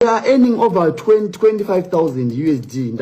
they are earning over 20, 25000 usd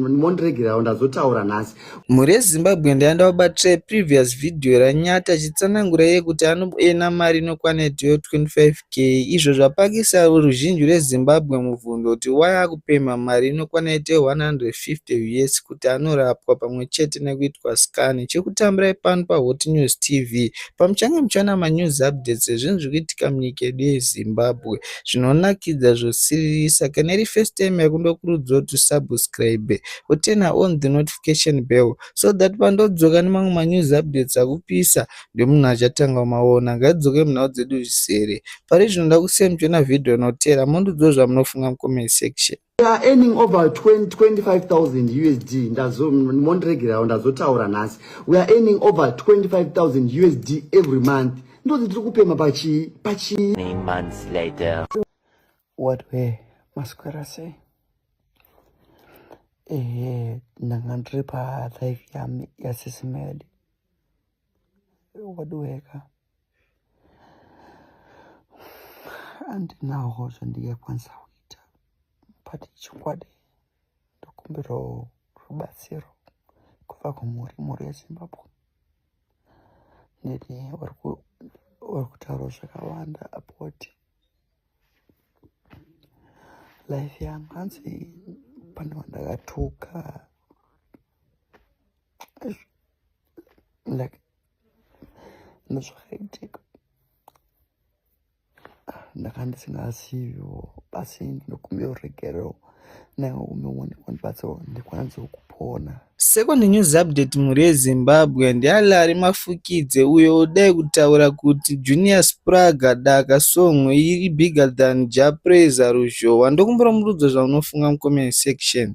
mondiregerawo ndazotaura nhasi mhuri yezimbabwe ndaenda wabatsira previous video ranyati achitsanangura iye kuti anoena mari inokwana itiyo 25 k izvo zvapakisa ruzhinji rwezimbabwe mubvunzo kuti waya akupema mari inokwana itiyo 150 us kuti anorapwa pamwe chete nekuitwa scan chekutambira ipano pahot news tv pamuchange muchana manews updates ezvinhu zviri kuitika munyika yedu yezimbabwe zvinonakidza zvosiririsa kana iri first time yako ndokurudzira kuti usubscribe uturna on the notification bell so that pandodzoka nemamwe manews updates akupisa ndomunhu achatanga maona ngadzoke munhau dzedu zvizere pari zvinoda kusiya muchiona vhidhiyo inoteera mondiudzwo zvamunofunga mucomment section They are earning over 20, 25,000 USD. Ndazo, mondiregerawo ndazotaura nhasi. We are earning over 25,000 USD every month. Ndozi tiri kupema pachi pachi. Many months later. What way? Maswera sei? Eh, ndanga ndiri pa life yami yasisimeli. Wadiweka. andinaho zvandingakwanisa kuita but chokwadi ndokumbirawo rubatsiro kubva kumhuri mhuri yezimbabwe neni vari kutaura zvakawanda apoti life yangu hanzi pane vandakatuka like nezvakaitika ah, ndakandisingaziviwo basi ndinokumbira uregerero nawo umeone kwandibatsirwa ndikwananisawo kupona Second news update mhuri yeZimbabwe ndialari mafukidze uyo odai kutaura kuti Junior Spraga daka song iri bigger than Jah Prayzah ruzhowa ndokumbira murudzo zvaunofunga mucomment section.